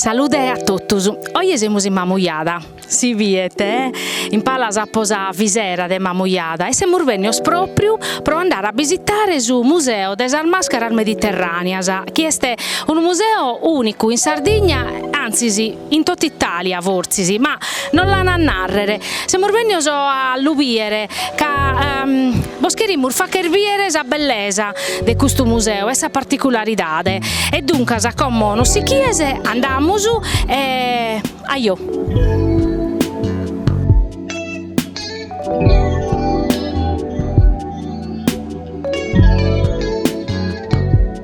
Salude a totus. Oje semus in Mamujada, si biet, in palas apo sa bisera de Mamujada e semus bennios propriu pro andare a bisitare su Museo de sas mascaras mediterraneas chi est unu museo unicu in Sardigna antzis in totu Itàlia fortzis, ma nos l'an a nàrrere, semus bènnios a lu bìere ca bos cherimus facher bìere sa bellesa de custu museu e sa particularidade e duncas como nos sichies andamus e ajò.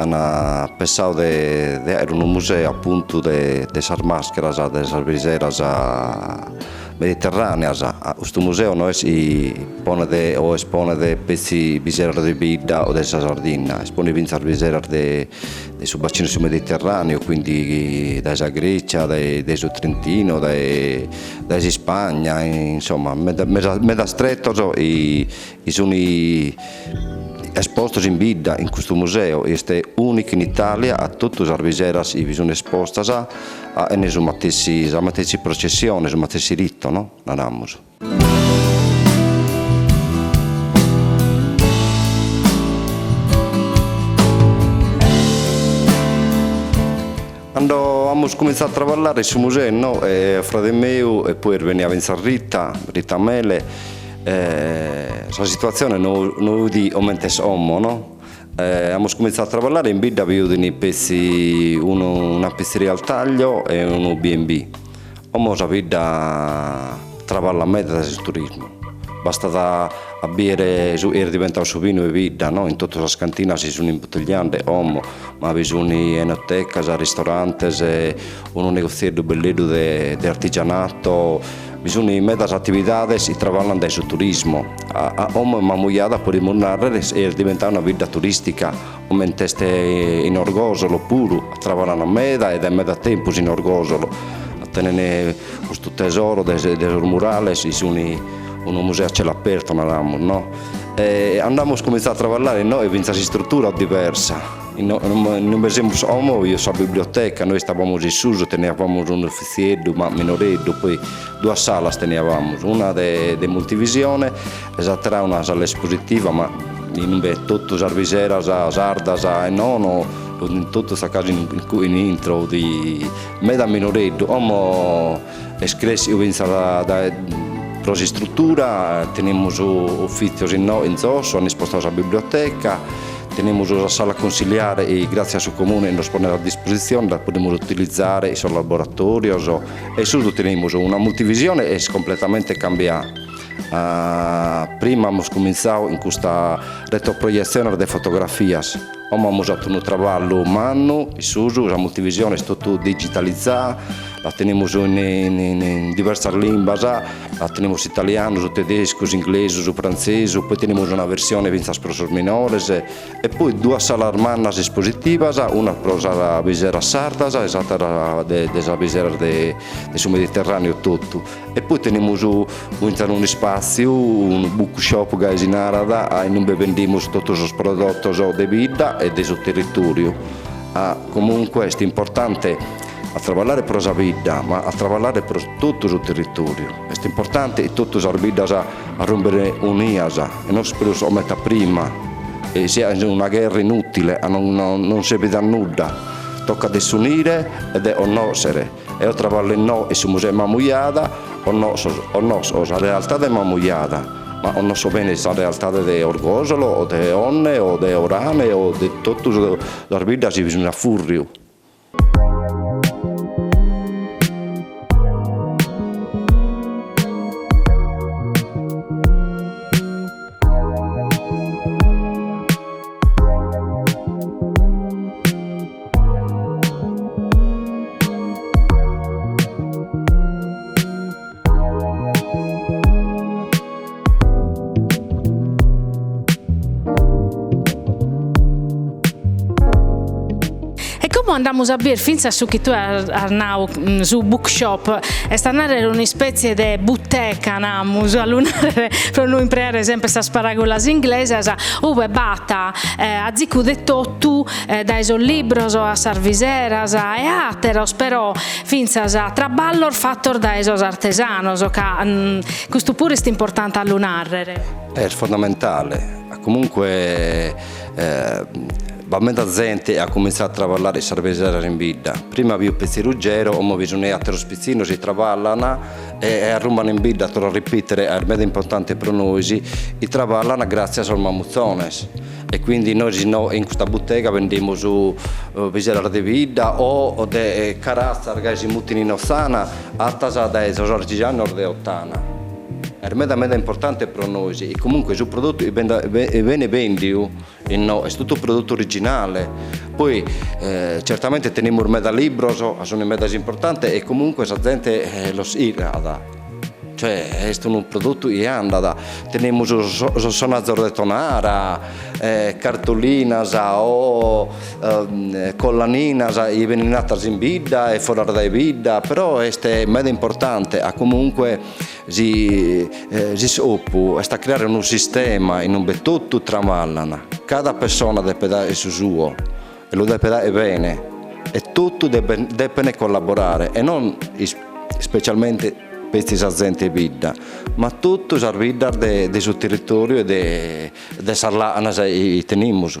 An pensau de aer unu museu apuntu de de sas mascheras de sas biseras mediterraneas. Custu museu no est chi ponet o esponet petzi biseras de bidda o de sa Sardinna, esponet fintzas biseras de de su bacinu 'e su Mediterraneu, quindi dae sa Grecia, dae dae su Trentino, dae dae s'Ispagna, insomma meda meda medas tretos chi sunt espostos in bidda in custu museu, chi est unicu in Italia, ca totu sas biseras chi sunt espostas tenen su matessi sa matessi processione, su matessi rito no? naramus. Cando amus cumintzadu a traballare in su museu no eo e frade meu e poi est bennia fintzas Rita, Rita Mele, sa situatzione no no fut comente est como no, amus cumintzadu a traballare in bidda bi fut petzi unu una pizzeria al taglio e unu B&B Como sa bidda traballat meda dae su turismu, bastat a biere su chi est diventadu su binu 'e bidda, no, in totu sas cantinas chi sun imbutelliande como, ma bi sun enotecas, ristorantes, unu negozieddu belleddu de de artigianato, bi sun medas atividades chi traballan dae su turismu, a a como est Mamujada podimus narrer est diventada una bidda turistica Comente est in Orgosolo puru traballan meda e dae meda tempus in Orgosolo tenen custu tesoro de sos murales chi sun unu museo a cielo aperto naramus no e cando amus comintzadu a traballare innoe fintzas s'istrutura diversa innoe ube semus como fut sa biblioteca nois istabamus in susu teniabamus unu uffizieddu ma minoreddu poi duas salas teniabamus una de multivisione E s'àtera una sala espositiva ma imbe totu sas biseras sardas e nono sunt totus a casu in intro fut meda minoreddu, como est cressiu fintzas dae pro s'istrutura, tenimus ufìtzios inoghe in zosso, an ispostau sa biblioteca, tenimus sa sala cunsiliare chi gràtzias a su Comune nos ponet a dispositzione, dda podimus utilizare in sos laboratorios e in susu tenimus una multivisione est completamente cambiada Prima amus cumintzau chin custa retroprojetziones de fotografias, como amus fatu unu traballu mannu in susu, sa multivisione est totu digitalizada, la tenimus in diversas limbas, la tenimus italianu, su tedescu, s'inglesu, su frantzesu, poi tenimus una versione fintzas pro sos minores, e poi duas salas mannas espositivas, una pro sas biseras sardas e s'atera de sas biseras de su Mediterraneo totu E poi tenimus fintzas unu ispàtziu, unu book shop gai si narat, innumbe bendimus totu sos prodotos de bidda e de su territòriu. Comunque est importante a traballare pro sa bidda, ma a traballare pro totu su territòriu. Est importante chi totu sas biddas arrumben unidas e non prus comente a prima e siat una gherra inùtile, non serbit a nudda, tocat de s'unire e de connòschere. Eo traballo inoche in su Museu 'e Mamujada, connosco, connosco sa realtade 'e Mamujada, ma connosco bene sa realtade de Orgosolo o de Onne o de Orane o de tottu sas biddas chi sun a furriu. E como andamus a bier fintzas su chi tue as nau, su book shop, est a narrer un'ispetzie de buteca, namus, a lu narrer pro no impreare sempre sas paragolas inglesas, ue b'at azicu de totu dae sos libros a sas viseras e a àteros, però fintzas a traballos fatos dae sos artesanos, ca custu puru est importante a lu nàrrere. Est fundamentale, comunque b'at meda zente at cumintzadu a traballare in sas viseras in bidda, prima fit petzi Ruggero, como bi sun àteros pitzinnos chi traballan e arrumban in bidda, torro a ripitere, est meda importante pro nois, chi traballan gratzias a sos mamutzones E quindi nois in custa butega bendimus biseras de bidda o de caratzas gai si mutin in Otzana, attas dae sos artigianos de Ottana. Est meda meda importante pro nois e comunque su prodottu chi benit bendiu innò est totu prodottu originale. Poi certamente tenimus meda libros ca sunt medas importante e comunque sa zente los chircat. Cioè, est unu prodottu chi andat, tenemus sos sonazos de Tonara, cartolinas o collaninas chi benint atas in bidda e foras dae bidda, però est meda importante ca comunque s'iscopu est a creare unu sistema in ue totu traballan, cada pessona depet aer su suo. E lu depet aer bene e totu depent collaborare e non ispecialmente petzi sa zente 'e bidda ma totu sas biddas de su territoriu e de sas làcanas chi tenimus.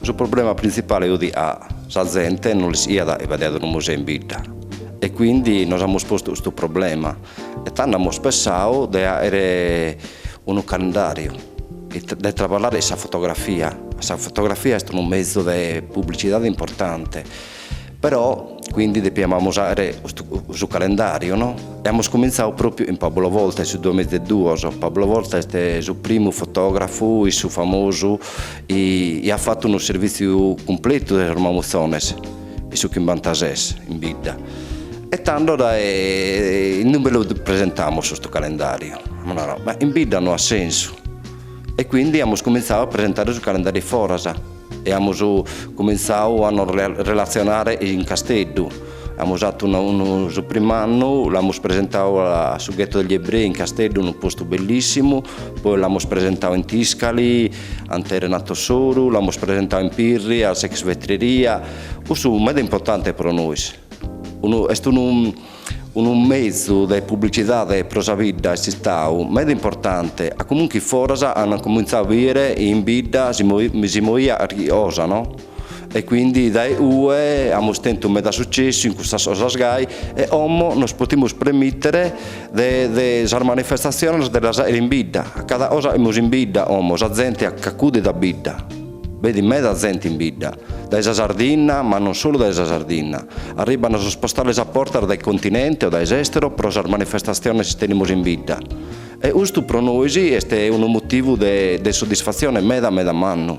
Su problema printzipale fudi ca sa zente no l'ischiat chi b'aiat unu museu in bidda e quindi nos amus postu custu problema e tando amus pessau de fàchere unu calendariu de traballare in sa fotografia, sa fotografia est unu mezu de publicidade importante Però, quindi depiamus fàchere su calendàriu, no? E amus cumintzau pròpiu chin Pablo Volta, in su duamiza e duos. Pablo Volta est su primu fotògrafu issu famosu chi iat fatu unu servìtziu cumpletu de sos mamutzones, in su chimbantases, in bidda. E tando in ue lu presentamus custu calendàriu? Amus naradu, ma in bidda no at sensu. E quindi amus cumintzau a presentare su calendàriu foras E amus cumintzau a nos relatzionare in Casteddu. Amus fatu unu su prim'annu, l'amus presentau a su Ghetto degli Ebrei in Casteddu, unu postu bellissimu, poi l'amus presentau in Tiscali, acante Renato Soru, l'amus presentau in Pirri, a s'Ex Vetreria, cussu meda importante pro nois. Est unu mezu de publicidade pro sa bidda, est istau meda importante, ca comunque foras an comintzau a bider in bidda si moiat carchi cosa no, e quindi dae cue amus tentu meda successu in custas cosas gai e como nos potimus premittere de sas manifestaziones de las fàcher in bidda, ca cada cosa fachimus in bidda como sa zente ch'accudit a bidda. Benit meda zente in bidda, dae sa Sardinna, ma non solu dae sa Sardinna. Arribbant sos postales a bortas dae continente o dae s'estero pro sas manifestatziones tenimus in bidda. E ustu pro nois est unu motivu de de soddisfatzione meda meda mannu.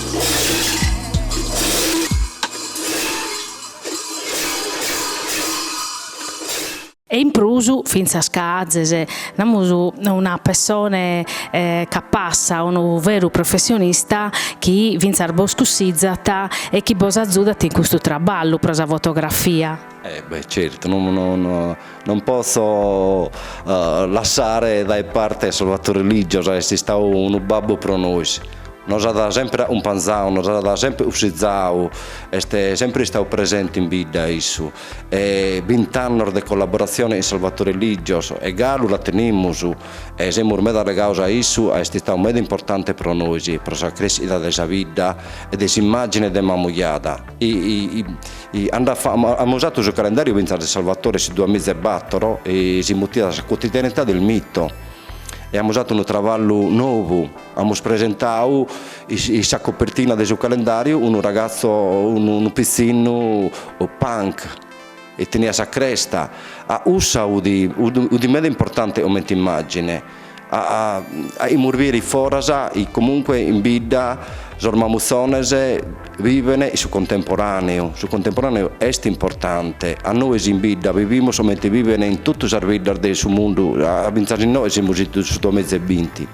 E in prus fintzas ch'azes, namus, una pessone capassa, unu veru professionista chi fintzas bos cussizat e chi bos azudat in custu traballu pro sa fotografia. Eh beh, certu, non potzo lassare dae parte Salvatore Ligios, est istadu unu babbu pro nois, nos at semper acumpanzadu, nos at semper ussizadu, est semper istadu presente in bidda issu e bint'annos de collaboratzione chin Salvatore Ligios e galu la tenimus e semus meda legados a issu, est istadu meda importante pro nois, pro sa crèschida de sa bidda e de s'immàgine de Mamujada. Cando amus fatu su calendàriu fintzas de Salvatore su duamiza e batoro si mutiat sa quotidianità del mito e amus fatu unu traballu nobu, amus presentau in sa copertina de su calendàriu unu ragazzo, unu pitzinnu punk e teniat sa cresta, cussa fut meda importante comente immàgine. ca fachimus bìere foras chi comunque in bidda sos mamuzzones biven in su contemporaneu, su contemporaneu est importante, ca nois in bidda bivimus comente biven in totu sas biddas de su mundu fintzas inoghe semus in su duamiza e binti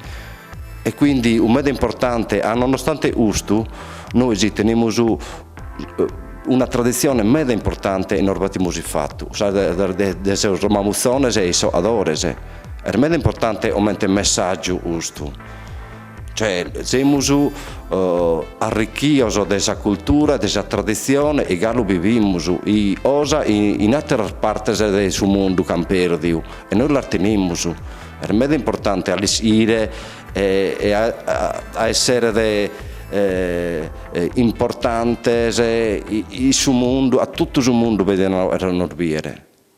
e quindi fut meda importante ca nonostante custu nois tenimus una tradizione meda importante e nos batimus in fatu sa de sos mamuzzones e issohadores. Est meda importante comente messàgiu custu, cioè semus arrichidos de sa cultura e de sa traditzione chi galu bivimus cosa chi in àteras partes de su mundu ch'ant pèrdiu e nois las tenimus. Est meda importante a l'ischire e a essere importantes in su mundu, ca totu su mundu benit a nos bìdere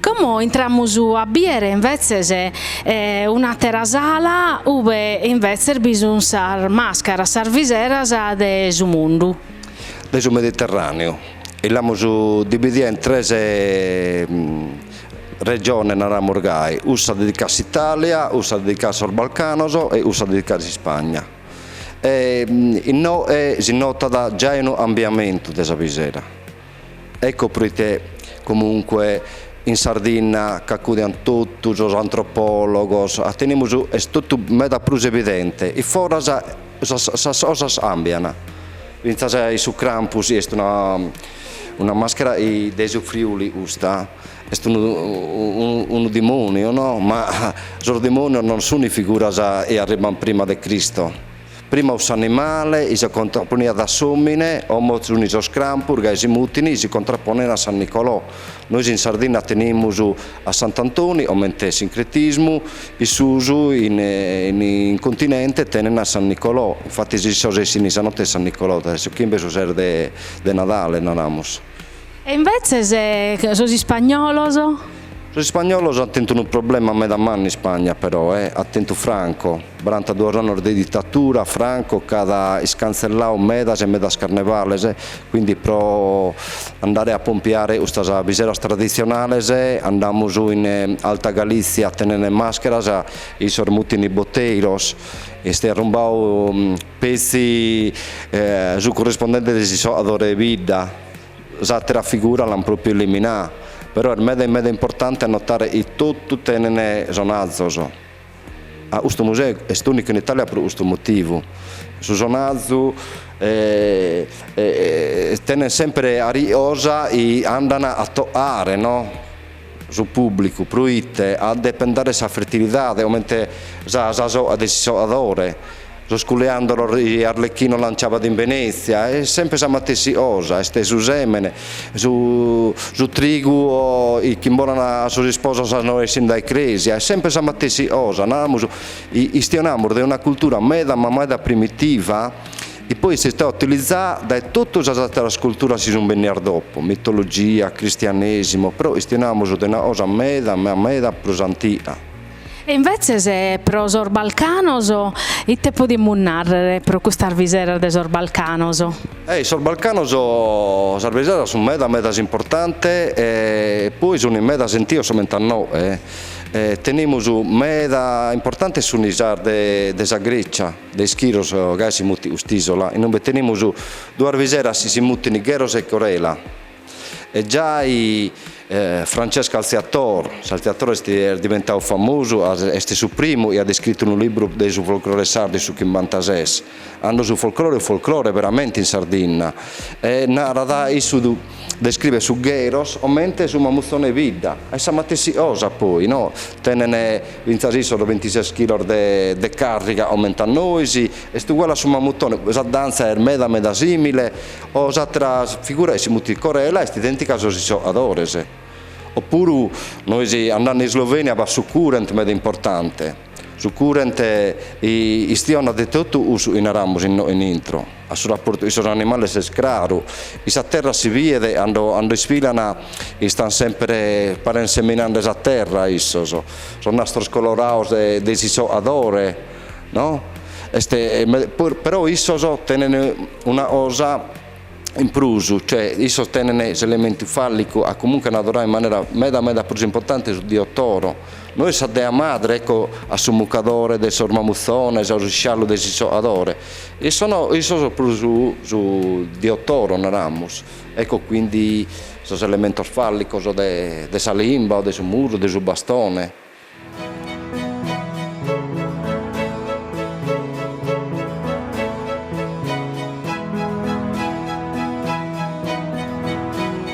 Como intramus a bìdere imbetzes un'àtera sala ue imbetzes bi sunt sas màscaras, sas viseras de su mundu. De su Mediterràneu, e l'amus dividida in tres Regione naramus gai, ussa dedicada a s'Italia, ussa dedicada a sos Balcanos e ussa dedicada a s'Ispagna. E innoe si notat giai unu ambiamentu de sa bisera. Ecco proite comunque in Sardinna ch'acudiant totu sos antropologos, a tenimus, est totu meda prus evidente, in foras sas sas cosas ambian, fintzas in su Krampus est una Una maschera de su Friuli custa, est unu dimoniu no, ma sos dimonios non sun figuras chi arribant prima de Cristo, prima fut s'animale chi si contrapponiat a s'omine, como sun sos Krampus gai si mutin chi si contrapponen a San Nicolò, nois in Sardinna tenimus a Sant'Antoni comente sincretismu, issos in continente tenen a San Nicolò, infatis issos essin in sa notte de San Nicolò dae su chimbe su ses de De Nadale, naramus. E invetzes sos ispagnolos? Sos ispagnolos ant tentu unu problema meda mannu in Ispagna però, e at tentu Franco. Baranta annos de ditatura, Franco ch'at iscantzelladu medas e medas carnevales, quindi pro andare a pompiare custas biseras traditzionales andamus in Alta Galizia a tenene màscheras chi issos mutin boteiros. Est arrumbadu Petzi su currispondente de s'issoadore 'e bidda, s'àtera figura l'ant pròpiu eliminada, però est meda meda importante a notare chi totu tenent sonazos. Custu museu est ùnicu in Itàlia pro custu motivu, su sonazu tenent semper carchi cosa chi andant a toare no su pùblicu, pro ite ca depent dare sa fertilidade, comente sa sa soa de s'issoadore, sos coriàndolos chi Arlecchino lanciabat in Venezia, est semper sa matessi cosa, est su sèmene, su su trigu chi imbolan a sos isposos cando essin dae crèsia, est semper sa matessi cosa, naramus, istionamus de una cultura meda ma meda primitiva, chi poi est istada utilizada dae totu sas àteras culturas chi sunt bennidas dopo, mitologia, cristianèsimu, però istionamus de una cosa meda ma meda prus antiga. E invetzes pro sos Balcanos ite podimus nàrrere pro custas biseras de sos Balcanos? E in sos Balcanos sas biseras sunt medas medas importantes e poi sun meda sentidos comente a innoe, tenimus meda importantes sun sas de sa Grècia, De Ischiros gai si mutit ust'isola, in ube tenimus duas biseras si si mutin gheros e corela. E giai Francesco Alziator, s'Alziator est diventadu famosu, est su primu chi at iscritu unu libru de su folclore sardu in su chimbantases, cando su folclore fut folclore veramente in Sardinna, e narat, issu describet su gheros comente su mamutzone 'e bidda, est sa matessi cosa poi no, tenen Fintzas issos de bintises chilos de càrriga a comente a nois, est uguale a su mamutone, sa dantza est meda meda sìmile, o s'àtera figura chi si mutit Corela est idèntica a sos issoadores. Opuru nois andende in Slovenia b'at su curent meda importante, su curent istionat de totu cussu chi naramus in intro. A su raportu cun sos animales est craru, in sa terra si biet e cando isfilan istan semper parent seminande sa terra issos, sos nastros colorados de s'isoadore no, est però issos tenent una cosa in prus, cioè issos tenent s'elementu fallicu ca comunque an adoradu in manera meda meda prus importante su dio Toro. Nois sa dea madre, ecco a su mucadore de sos mamuzzones, a su sciallu de s'issoadore, issos no, issos prus su dio Toro naramus, ecco quindi sos elementos fallicos de de sa limba o de su murru, de su bastone.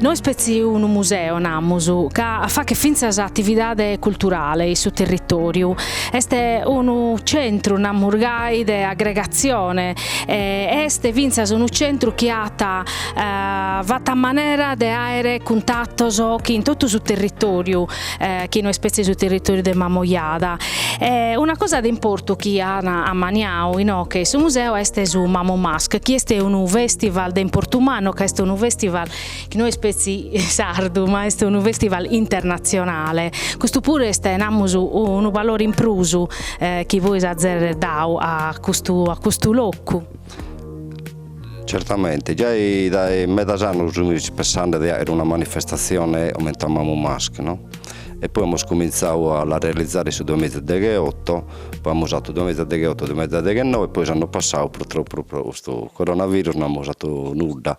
No est petzi unu museo, namus, ca faghet fintzas atividade culturale in su territòriu, est unu centru, namus gai, de agregatzione e est fintzas unu centru chi at fatu a manera de àere cuntatos chin totu su territòriu chi no est petzi su territoriu de Mamujada e una cosa de importu chi an ammaniadu inoche in su museu est su MamuMask chi est unu festival de importu mannu ca est unu festival chi no est petzi sardu ma est unu festival internatzionale, custu puru est namus unu valore in prus chi bois azer dadu a custu a custu locu. Certamente, giai dae medas annos fimis pensende de aere una manifestazione comente a MamuMask no, e poi amus comintzadu a la realizare in su duamiza e degheotto, poi amus fatu duamiza e degheotto duamiza e deghennoe e poi s'anno passadu purtroppo pro pro custu coronavirus no amus fatu nudda.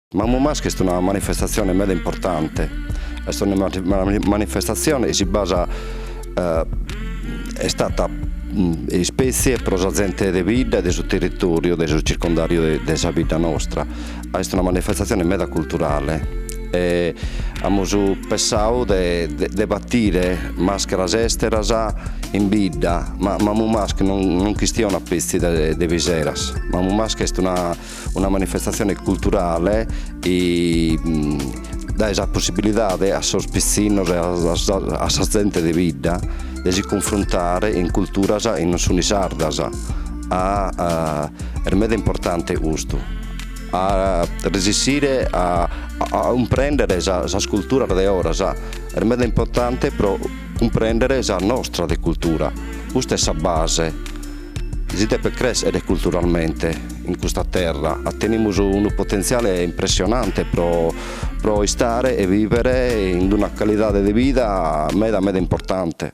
MaMuMask est una manifestatzione meda importante, est una manifestatzione chi si basa est stata ispètzie pro sa zente de bidda e de su territòriu de su circundàriu de sa bidda nostra, est una manifestatzione meda culturale e amus pensadu de de batire màscheras èsteras in bidda, ma MaMuMask non chistionat petzi de piseras, MaMuMask est una Una manifestatzione culturale chi dae sa possibilidade a sos pitzinnos e a sa zente de bidda de si cunfruntare in culturas chi non sunt sardas, est meda importante custu, a resessire a cumprendere sas culturas de oras, est meda importante pro cumprendere sa nostra de cultura, custa est sa base Si depet crèschere culturalmente in custa terra, tenimus unu potentziale impressionante pro pro istare e vivere in una calidade de vida meda meda importante.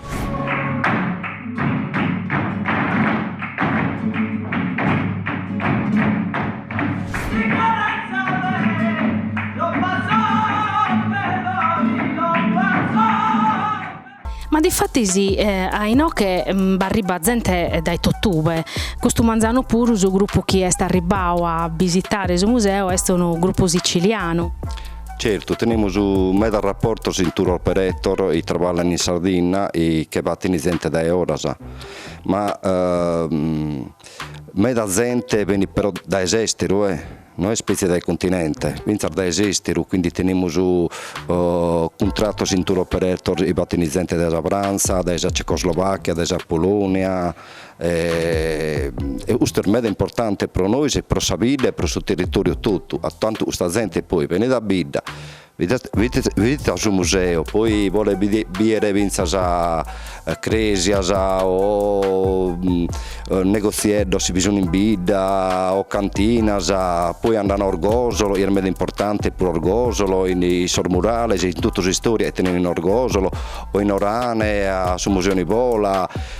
Ma difatis a inoche b'arribbat zente dae totube, custu manzanu puru su grupu chi est arribbadu a bisitare su museu est unu grupu sitzilianu. Certu, tenemus medas raportos in tour operator chi traballan in Sardinna e che batin zente dae oras, ma meda zente benit però dae s'esteru e no est petzi dae continente, fintzas dae s'esteru, quindi tenemus cuntratos in tour operator chi batin zente dae sa Frantza, dae sa Cecoslovacchia, dae sa Polonia e custu est meda importante pro nois e pro sa bidda e pro su territoriu totu, a tantu custa zente poi benit a bidda a su museo poi bolet bider finzas cresias o negozieddos chi bi sun in bidda o cantinas, poi andan a Orgosolo chi est meda importante pro Orgosolo in sos murales in totu s'istoria chi tenen in Orgosolo o in Orane a su museo Nivola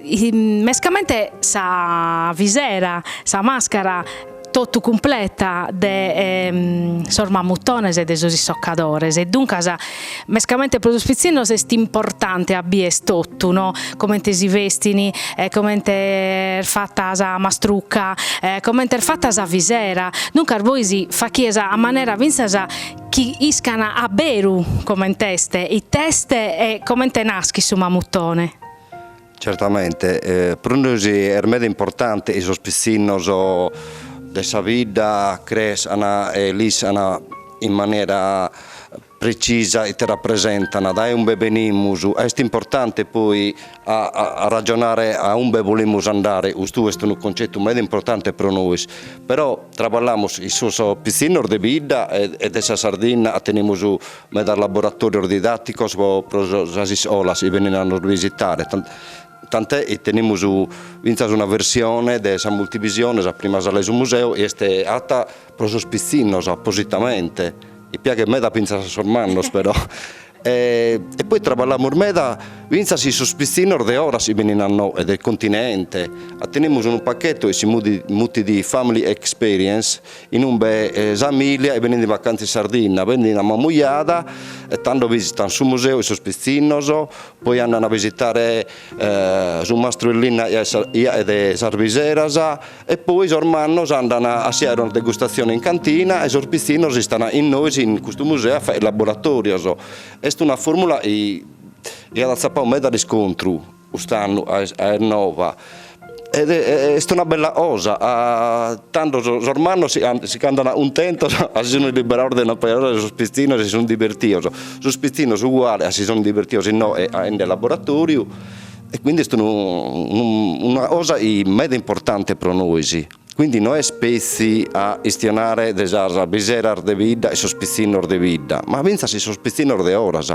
Mescamente sa visera, sa màscara totu cumpleta de sos mamutones e de sos issocadores e duncas mescamente pro sos pitzinnos est importante a bider totu no, comente si bestin e comente est fata sa mastrucca e comente est fata sa visera, duncas poi si fachides a manera fintzas chi iscan a beru coment'est, it'est e comente naschit su mamutone Certamente, pro nois est meda importante chi sos pitzinnos de sa bidda crescan e l'iscan in manera precisa ite rapresentan, dae umbe benimus, est importante poi a a ragionare a umbe bolimus andare, custu est unu concetu meda importante pro nois, però traballamus chin sos pitzinnos de bidda e de sa Sardinna tenimus Medas laboratòrios didàticos pro sas iscolas chi benint a nos bisitare, tant'è chi tenimus fintzas una versione de sa multivisione, sa prima sala 'e su museu chi est ata pro sos pitzinnos appositamente, chi piaghet meda fintzas a sos mannos però e poi traballamus meda fintzas chin sos pitzinnos de oras chi benint a innoe, de continente, tenimus unu pacchettu chi si mutit Family Experience Inumbe sa amìlia est benende in vacanza in Sardinna, benende a Mamujada e tando visitant su museu e sos pitzinnos, poi andant a visitare su mastru 'e linna chi aet sas biseras e poi sos mannos andant a si aere una degustazione in cantina e sos pitzinnos istant chin nois in custu museu a fagher laboratorios. Est una formula chi at atzapadu meda riscontru. Cust'annu est nova ed est una bella cosa, tando sos mannos si ch'andana cuntentos ca si sun liberados de una paja d'oras e sos pitzinnos si sun divertidos, sos pitzinnos uguale ca si sun divertidos innoe aende laboratoriu e quindi est una cosa meda importante pro nois, quindi no est petzi a istionare de sas biseras de bidda e sos pitzinnos de bidda, ma finzas sos pitzinnos de oras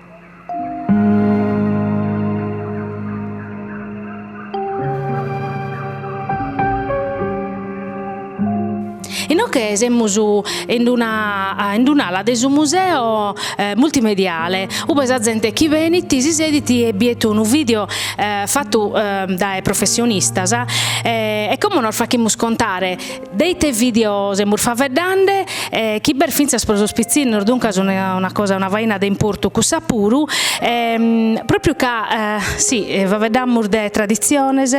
Inoghe semus in una in un'ala de su museo multimediale, ue sa zente chi benit si sedit e biet unu video fatu dae professionistas e como nos faghimus contare De ite video semus faeddende? Chi b'est fintzas pro sos pitzinnos, duncas una cosa una faina de importu cussa puru, propriu ca si faeddamus de traditziones,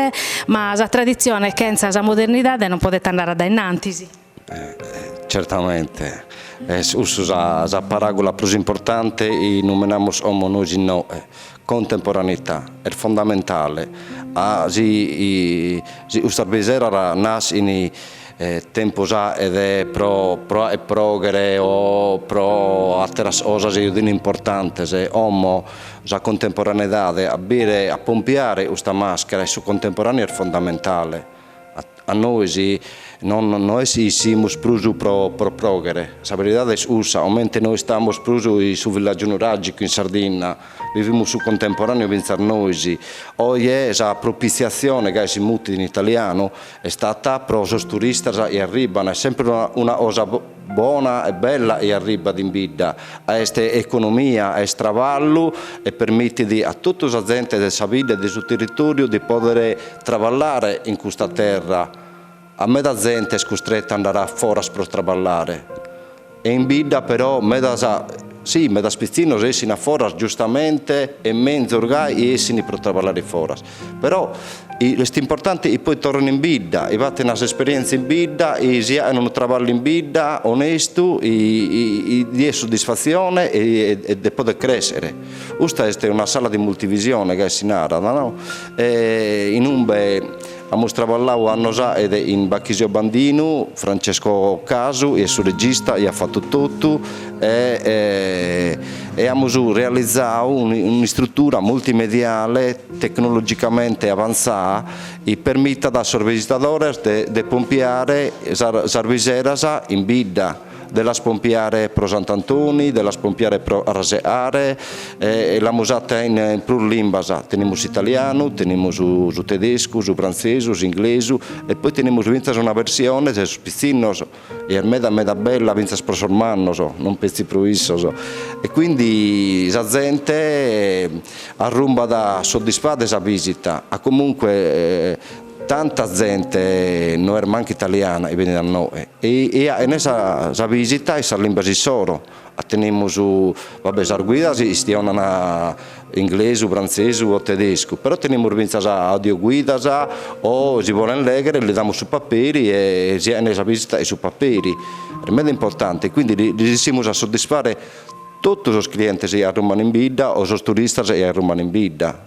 ma sa traditzione chentza sa modernidade non podet andare a dae innantis. Certamente, est cussu sa paràgula prus importante, chi numenamus como nois innoe, contemporaneità est fondamentale ca si si custas biseras naschin tempus aet pro pro aer proghere o pro atteras cosas chi utin importantes como sa contemporaneidade a bire a pompiare custa maschera in su contemporaneo est fondamentale. Ca nois no est chi issimus prus pro pròghere, sa beridade est cussa, comente no istamus prus in su villàgiu nuràgicu in Sardinna, bivimus su contemporàneu fintzas nois. Oje sa propitziatzione, gai si mutit in italianu, est fata pro sos turistas chi arribant, est semper una cosa Bona e bella chi arribbat in bidda, est economia, est traballu e permitit a totu sa zente de sa bidda e de su territòriu de pòder traballare in custa terra. Ca meda zente est custreta a andare a foras pro traballare e in bidda però medas, si, medas pitzinnos essint a foras giustamente e menzus gai essint pro traballare foras. Però est importante chi poi torren in bidda, chi faten s'esperienza in bidda, chi si fachen unu traballu in bidda onestu, diet suddisfatzione e de poder crèschere. Custa est una sala de multivisione gai si narat no? in umbe amus traballau annos fachet chin Bachisio Bandinu, Francesco Casu chi est su regista chi at fattu tottu, e amus realizau un'istrutura multimediale tecnologicamente avantzada chi permitat a sos bisitadores de pompiare sas biseras in bidda, de las pompiare pro Sant'Antoni, de las pompiare pro Carrasecare e l'amus fata in prus limbas, tenimus s'italianu, tenimus su tedescu, su frantzesu, s'inglesu e poi tenimus fintzas una versione de sos pitzinnos. E est meda meda bella fintzas pro sos mannos, non petzi pro issos. E quindi sa zente arrumbat soddisfada 'e sa visita, ca comunque tanta zente no est mancu italiana chi benit a inoche e fachen sa visita in sas limbas issoro. Tenimus va bè sas guidas chi chistionan inglesu, frantzesu o tedescu, però tenimus fintzas audioguidas o si bolen lèghere li damus su paperi e si fachen sa visita chin su paperi. Est meda importante, quindi resissimus a soddisfare totu sos clientes chi arrumban in bidda o sos turistas chi arrumban in bidda.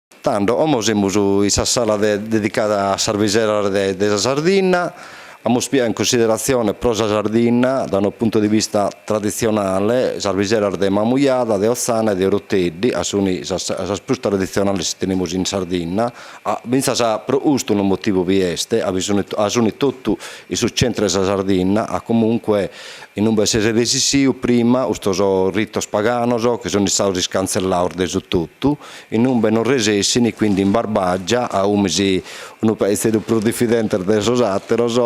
Tando, como semus in sa sala de dedicada a sas biseras de de sa Sardinna, amus piau in cunsideratzione pro sa Sardinna, da unu puntu de vista traditzionale, sas biseras de Mamujada, de Otzana e de Oroteddi, ca suni sas sas prus traditzionales chi tenemus in Sardinna, ca fintzas pro custu unu motivu bi est, ca bi suni ca suni totu in su centru de sa Sardinna, ca comunque in umbe s'est resistiu prima custos ritos paganos chi sun istados iscantzellados de su totu, Inumbe non resessini quindi in Barbagia, a ume si' unu pachizedu prus diffidentes de sos àteros,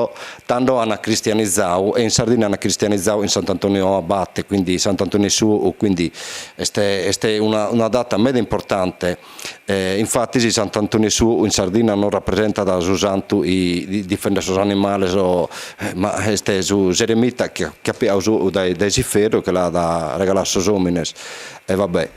tando ant cristianizadu e in Sardinna ant cristianizadu in Sant'Antoniu Abate, quindi Sant'Antoni 'e su 'ou, quindi est est una una data meda importante, infatis Sant'Antoni 'e su 'ou in Sardinna non rapresentat su santu chi difendet sos animales o ma est su s'eremita chi chi at piadu su 'ou dae s'iferru e che l'at regaladu a sos òmines e va bè.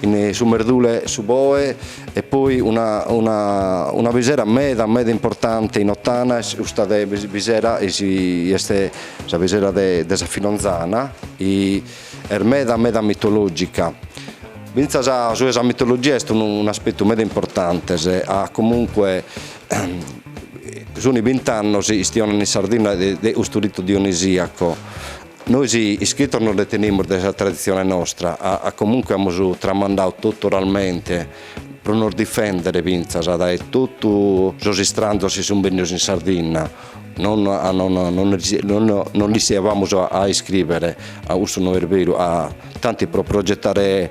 in su merdule su boe e poi b'at una bisera meda meda importante in Ottana est custa de bisera est sa bisera de sa Filonzana est meda meda mitologica finzas su 'e sa mitologia est un'aspettu meda importante a comunque sun bint'annos istionan in Sardinna de custu ritu dionisiaco Nois iscritos non nde tenimus de sa traditzione nostra, a comunque amus tramandadu totu oralmente pro nos difèndere fintzas dae totu sos istranzos chi sun bennidos in Sardinna, non non 'ischiabamus a iscrivere, a cussu no est beru, tanti pro progetare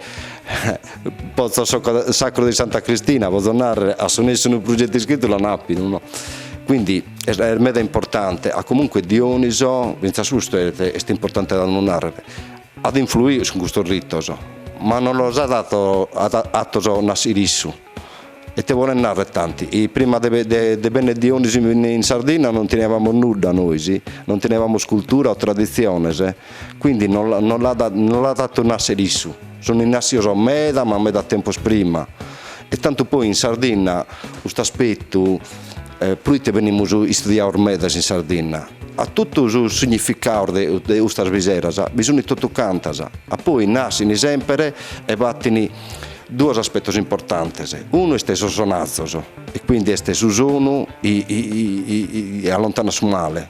pozzo sacro di Santa Cristina, potzo narrer, a su nessu unu pruggettu iscrittu l'an appidu no, quindi Est meda importante, a comunque Dioniso, fintzas custu est importante a du narrer, at influidu cun custos ritos, ma non los at atos nàssere issu, e te bolen narrer tanti, prima de benner Dioniso in Sardinna non tenebamus nudda nois, non tenebamus cultura o traditziones, Quindi no l'at no l'at atu nàssere issu. Sunt innàssios meda ma meda tempus prima. E tantu poi in Sardinna cust'aspetu, proite benimus istudiados medas in Sardinna, a totu sos significados de de custas biseras bi sunt totucantas. A poi nàscini semper e fatin duos aspetos importantes. Unu est sos sonazos e quindi est su sonu chi allontanat su male.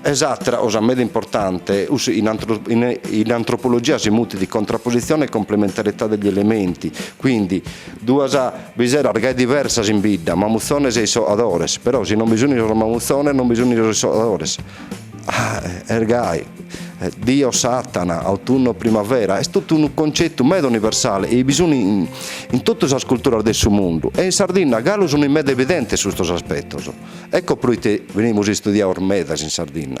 E s'àtera cosa meda importante, cussu in in antropologia si mutit contrapposizione e complementarietà degli elementi, quindi duas biseras gai diversas in bidda, mamuzzones e issoadores, però si non bi sunt sos mamuzzones non bi sunt sos issoadores, est gai, Dio, Satana, autunno, primavera, est totu unu concetu meda universale e bi sun in totu sas culturas de su mundu e in Sardinna galu sun meda evidentes custos aspetos. Ecco proite benimus istudiados medas in Sardinna.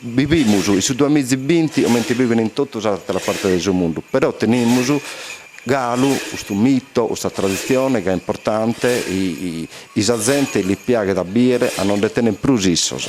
Bivimus in su duamiza e binti comente bivent in totu sas àteras partes de su mundu, però tenimus galu custu mito, custa traditzione chi est importante, chi sa zente li piaghet a bìdere ca no nde tenent prus issos.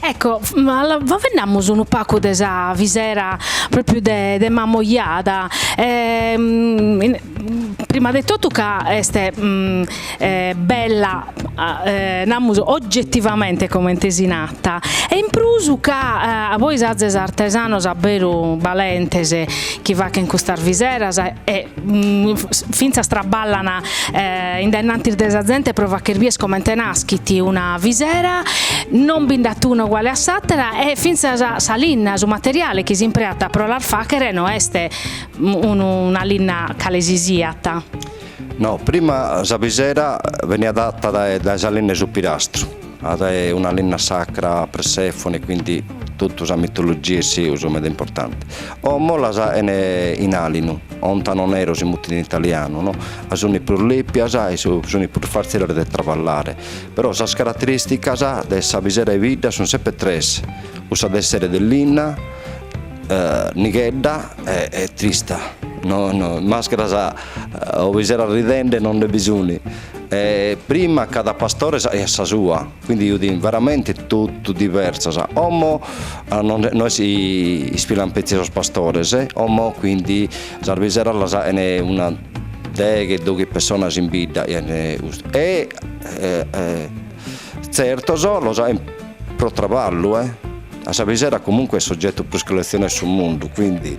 Ecco, faveddamus unu pagu de sa visera pròpriu de de Mamoiada e prima de totu ca est bella namus ogetivamente comente si nata e in prus ca pois azes artesanos abberu balentes chi faghen custas viseras e fintzas traballan in dae-nnantis de sa zente pro fagher bider comente naschit una visera, non bi nd'at una uguale a s'àtera e fintzas sa linna, su materiale chi s'impreat pro las fàghere no est unu una linna cale si siat. No, prima sa visera beniat fata dae sa linna 'e su pirastru Fiat una linna sacra a Persefone, quindi totu sa mitologia e seus meda importante. Como las faghent in alinu, ontano nero si mutit in italianu, no? Ca suni prus lepias e su suni prus fàtziles de travallare. Però sas carateristicas de sa pisera 'e bidda sun sempre tres, cussa de essere de linna, nighedda e trista. No, no, mascaras o piseras ridende non nde bi suni. E prima cada pastore aiat sa sua, quindi fiant veramente totu diversas, como no isfilant petzi sos pastores, como quindi sas biseras las faghent una deghe doghe pessonas in bidda e tzertos lu faghent pro traballu, ca sa bisera comunque est s'ogetu prus colletzionadu 'e su mundu, quindi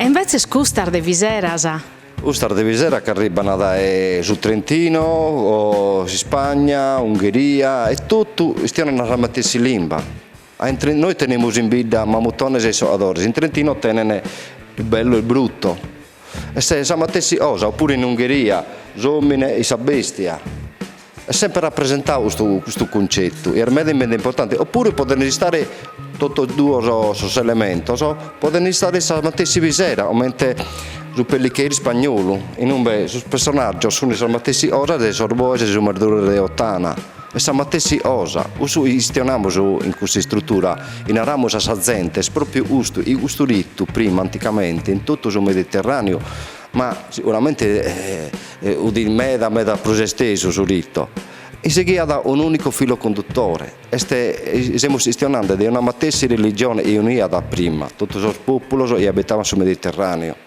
E invetzes custas de viseras? Custas de viseras chi arribbana dae su Trentino, s'Ispagna, Ungheria e totu chistionant sa matessi limba. Nois tenemus in bidda mamutones e issoadores, in Trentino tenent il bello e il brutto. Est sa matessi cosa, oppuru in Ungheria s'omine e sa bestia. Est semper rapresentadu custu custu cuncetu, e est meda meda importante, oppuru podent istare totus duos sos elementos, podent istare sa matessi pisera, comente su peliqueiro spagnolu, inumbe sos personaggios sunt sas matessi cosa de sos boes e su merdule de Ottana, est sa matessi cosa, cussu chistionamus in custa istrutura, chi naramus a sa zente, est propriu custu, chi custu ritu prima anticamente in totu su Mediterraneu Ma siguramente udit meda meda prus estesu su ritu. I seghiat un'unicu filu conduttore, est i semus chistionande de una matessi religione i uniat prima totu sos populos i abitaban su Mediterraneo.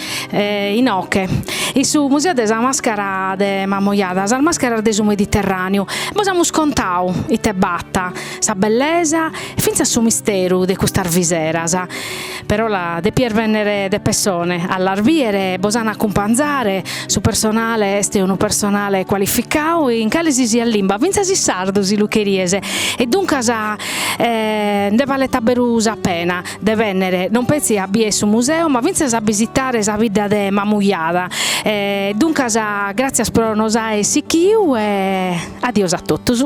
Inoche, in su museo de sa mascara de Mamoiada, sas mascaras de su Mediterraneu, bos amus contau ite b'at, sa bellesa e fintzas su misteru de custas viseras, però depies bennere de pessone a las biere, bos an a acumpanzare, su personale est unu personale cualificau in cale si siat limba, fintzas in sardu si lu cheries, e duncas nde balet a beru sa pena. De bènnere non petzi a bier su museu ma fintzas a bisitare sa bidda de Mamujada. E duncas gràtzias pro nos aer sichiu e addios a totus.